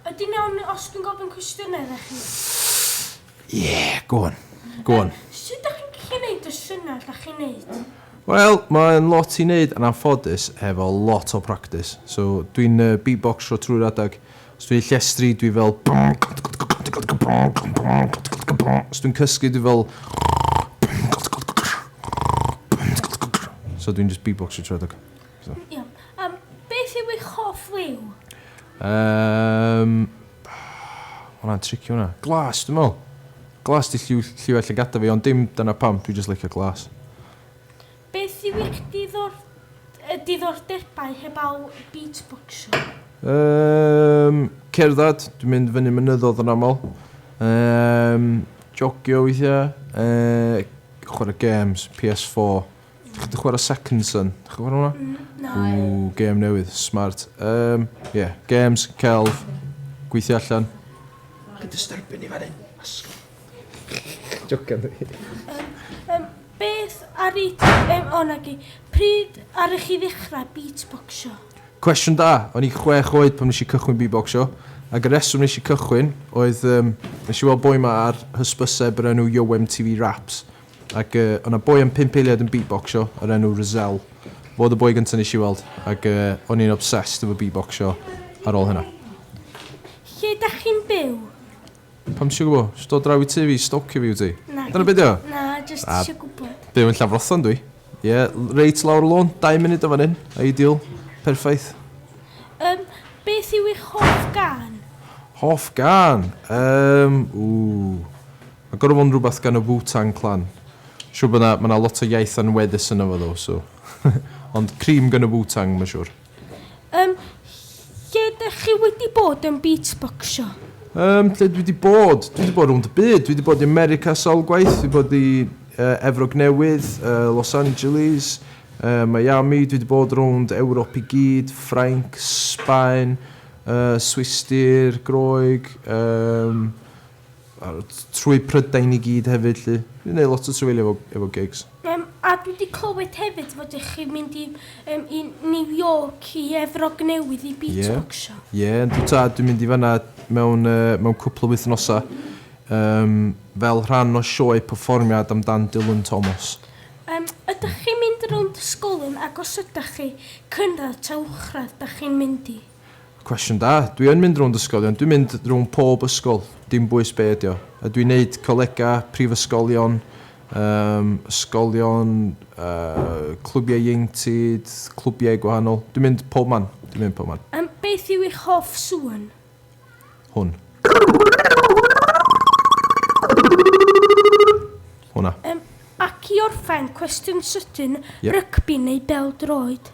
Ydyn iawn ni os dwi'n gofyn cwestiynau idda chi? Ie, go on. Go on. Sut dach chi'n gallu neud y synnau dach chi'n neud? Wel, mae'n lot i neud yn anffodus hefo lot o practis. So, dwi'n yy beatboxro trwy'r adeg. Os dwi'n llestri, dwi fel... Os dwi'n cysgu, dwi fel... So, dwi'n jyst beatboxro trwy'r adeg. So. Iawn. Um, beth yw eich hoff liw? Um, Hwna'n tricky hwnna. Glas, dwi'n meddwl. Glas di lliw, lliw allan gada fi, ond dim dyna pam, dwi'n just licio glas. Beth yw eich diddor, diddordebau heb al beatboxio? Um, cerdded, dwi'n mynd fyny mynyddodd yn aml. Um, jogio weithiau, uh, chwarae games, PS4. Chi wedi chwarae Second Son? Chi chwarae hwnna? Mm, na. Ww, gêm newydd. Smart. Um, ie, yeah. games, celf, gweithio allan. Chi'n disturbio ni fan hyn. Asgol. Jocan dwi. Um, beth ar i... Um, o, na gi. Pryd ar i chi ddechrau beatboxio? Cwestiwn da. O'n i chwech oed pan nes i cychwyn beatboxio. Ac y reswm nes i cychwyn oedd... Um, nes i weld boi ma ar hysbyseb yr enw Yo MTV Raps. Ac yy o' 'na boi am pump eiliad yn beatbocsio o'r enw Razelle. Fo oedd y boi gynta nes i weld ac yy o'n i'n obsessed efo beatbocsio ar ôl hynna. Lle dach chi'n byw? Pam tisio gwbo? Jyst dod draw i tŷ fi, stalcio fi wyt ti? Nadi. Dyna be' 'di o? Na, jyst Na. isio gwbod. Byw yn Llanfrothlon dwi. Ie, l- reit lawr y lôn, dau munud o fan 'yn. Ideal. Perffaith. Yym, beth yw eich hoff gân? Hoff gân? Yym, ww. Mae gorfod fod yn rhywbeth gan y Wu Tang Clan. Siwr bod yna, mae yna lot o iaith anweddus yno fo ddo, so. Ond cream gan y Wu Tang, mae'n siwr. Yym, lle dych chi wedi bod yn beatboxio? Yym, lle dwi wedi bod? Dwi wedi bod rownd y byd. Dwi wedi bod i America sawl gwaith. Dwi wedi bod i uh, Efrog Newydd, uh, Los Angeles, uh, Miami. Dwi wedi bod rownd Ewrop i gyd, Ffrainc, Sbaen, uh, Swistir, Groeg, um, A trwy Prydain i gyd hefyd 'lly. Dwi 'di neud lot o trafeilio efo efo gigs. Yym a dwi 'di clywed hefyd fod y'ch chi'n mynd i yym i New York i Efrog Newydd i beatboxio. Ie ie yndw tad dwi'n mynd i fan'na mewn yy mewn cwpwl o wythnosa yym fel rhan o sioe perfformiad amdan Dylan Thomas. Yym ydach chi'n mynd rownd ysgolion ag os ydach chi, cynradd ta uwchradd 'dach chi'n mynd i? Cwestiwn da. Dwi yn mynd rownd ysgolion, dwi'n mynd rownd pob ysgol, dim bwys be ydi o. A dwi'n neud colega, prifysgolion, um, ysgolion, uh, clwbiau ieuenctid, clwbiau gwahanol. Dwi'n mynd pob man, dwi'n mynd pob man. Um, beth yw eich hoff sŵn? Hwn. Hwna. Um, ac i orffen, cwestiwn sydyn, yep. rygbi neu bel droed?